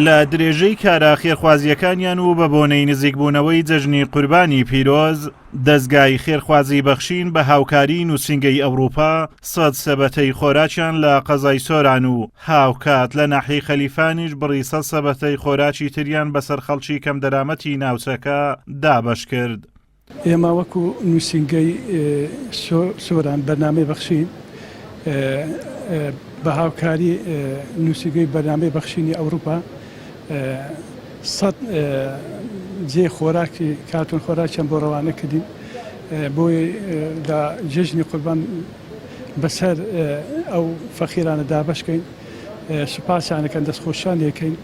لە درێژەی کارە خێرخوازیەکانیان و بە بۆنەی نزیکبوونەوەی جەژنی قوربانی پیرۆز دەستگای خێرخوازی بەخشین بە هاوکاری نووسنگەی ئەوروپا سەد سەبەتەی خۆراکیان لە قەزای سۆران و هاوکات لە ناحی خەلیفانیش بڕی سە سەبەتەی خۆراکی تریان بەسەر خەڵکی کەم دەرامەتی ناوچەکە دابەش کرد. ئێمە وەکو نووسینگەی سۆران بەرنامەی بەخشین بە هاوکاری نووسیگەی بەرنامەی بەخشینی ئەوروپا سەد جێ خۆراکی کارتون خۆراکیان بۆ ڕەوانە کردین بۆی لە جژنی قوربان بەسەر ئەو فەخیرانە دابشکەین سوپاسیانەکەن دەستخۆشان یەکەین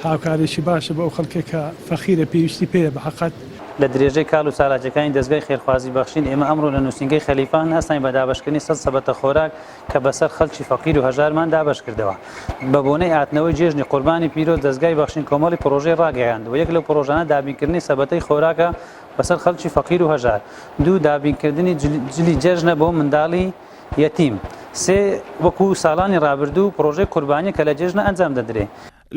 هاوکاریی باشە بۆ ئەو خەڵکەی کە فەقیرە پێویستی پێیە بە قەد. لە درێژەی کال و چالاکیەکانی دەزگای خێرخوازی بەخشین ئێمە ئەمڕۆ لە نوسینگەی خەلیفە هەناساین بە دابەشکردنی سەد سەبەتە خۆراک کە بەسەر خەڵکی فەقیر و هەژارمان دابەشکردەوە بە بۆنەی ئاتنەوەی جێژنی قوربانی پیرۆز دەزگای بەخشین کۆمەڵی پڕۆژەی ڕاگەیاند و یەک لەو پڕۆژانە دابینکردنی سەبەتەی خۆراکە بەسەر خەڵکی فەقیر و هەژار دوو دابینکردنی جلی جلی جێژنە بۆ منداڵی یەتیم سێ وەکو ساڵانی ڕابردوو پڕۆژەی قوربانی کە لە جێژنە ئەنجام دەدرێ.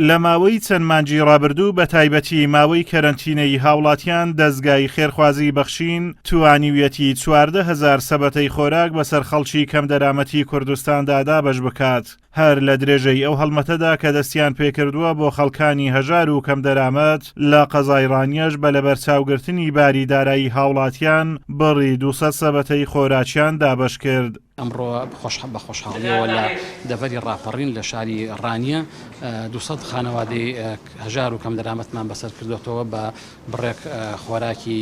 لە ماوەی چەند مانگی ڕابردوو بە تایبەتی ماوەی کەرەنتینەیی هاوڵاتیان دەزگای خێرخوازی بەخشین توانیویەتی چواردە هەزار سەبەتەی خۆراک بەسەر خەڵکی کەمدەرامەتی کوردستاندا دابەش بکات. هەر لە درێژەی ئەو هەڵمەتەدا کە دەستیان پێکردووە بۆ خەڵکانی هەژار و کەم دەرامەت لە قەزای ڕانیەش بە لەبەرچاوگرتنی باری دارایی هاوڵاتیان بڕی دوو سەد سەبەتەی خۆراکیان دابەش کرد. ئەمڕۆ بە خۆشحاڵیەوە لە دەڤەری ڕاپەڕین لە شاری ڕانیە دوو سەد خانەوادەی هەژار و کەم دەرامەتمان بەسەر کردۆتەوە بە بڕێک خۆراکی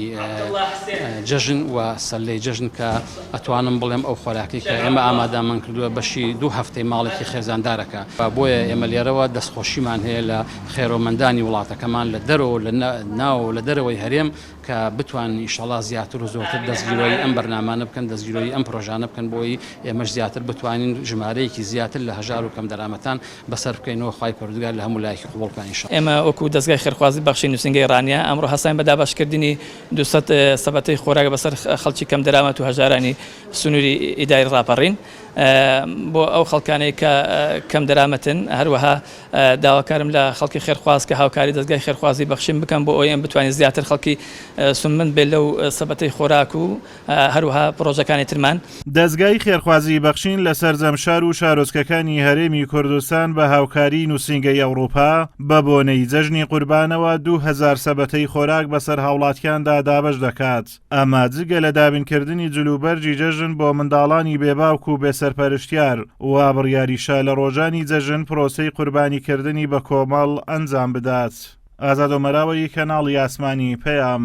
جەژن و سەلەی جەژن کە ئەتوانم بڵێم ئەو خۆراکی کە ئێمە ئامادەمان کردووە بەشی دوو هەفتەی ماڵێکی خێزاندارەکە و بۆیە ئێمە لێرەوە دەستخۆشیمان هەیە لە خێرۆمەندانی وڵاتەکەمان لە دەرەوە لە ناو لە دەرەوەی هەرێم کە بتوانن ئیشەڵا زیاتر و زۆرتر دەستگیرۆی ئەم بەرنامانە بکەن دەستگیرۆی ئەم پرۆژانە بکەن بۆی ئێمەش زیاتر بتوانین ژمارەیەکی زیاتر لە هەژار و کەم دەرامەتان بەسەر بکەینەوە خوای پەروردگار لە هەموو لایەکی قبوڵ بکا ان شاءاللە. ئێمە وەکو دەزگای خێرخوازی بەخشین نوسینگەی ڕانیە ئەمڕۆ هەستاین بە دابەشکردنی دوو سەد سەبەتەی خۆراک بەسەر خەڵکی کەم دەرامەت و هەژارانی سنوری ئیداری ڕاپەڕین بۆ ئەو خەڵکانەی کە کەم دەرامەتن هەروەها داواکارم لە خەڵکی خێرخواز کە هاوکاری دەزگای خێرخوازی بەخشین بکەن بۆ ئەوەی بتوانین زیاتر خەڵکی سودمەند بێت لەو سەبەتەی خۆراک و هەروەها پڕۆژەکانی ترمان. دەزگای خێرخوازی بەخشین لە سەرجەم شار و شارۆچکەکانی هەرێمی کوردستان بە هاوکاریی نووسینگەی ئەوڕوپا، بە بۆنەی جەژنی قوربانەوە دوو هەزار سەبەتەی خۆراک بەسەر هاوڵاتیاندا دابەش دەکات، ئەمە جگە لە دابینکردنی جلوبەرگی جەژن بۆ منداڵانی بێ باوک و بێ سەرپەرشتیار، وا بڕیاریشە لە ڕۆژانی جەژن پرۆسەی قوربانیکردنی بە کۆمەڵ ئەنجام بدات. ئازاد ئۆمەراوەیی، کەناڵی ئاسمانی، پەیام.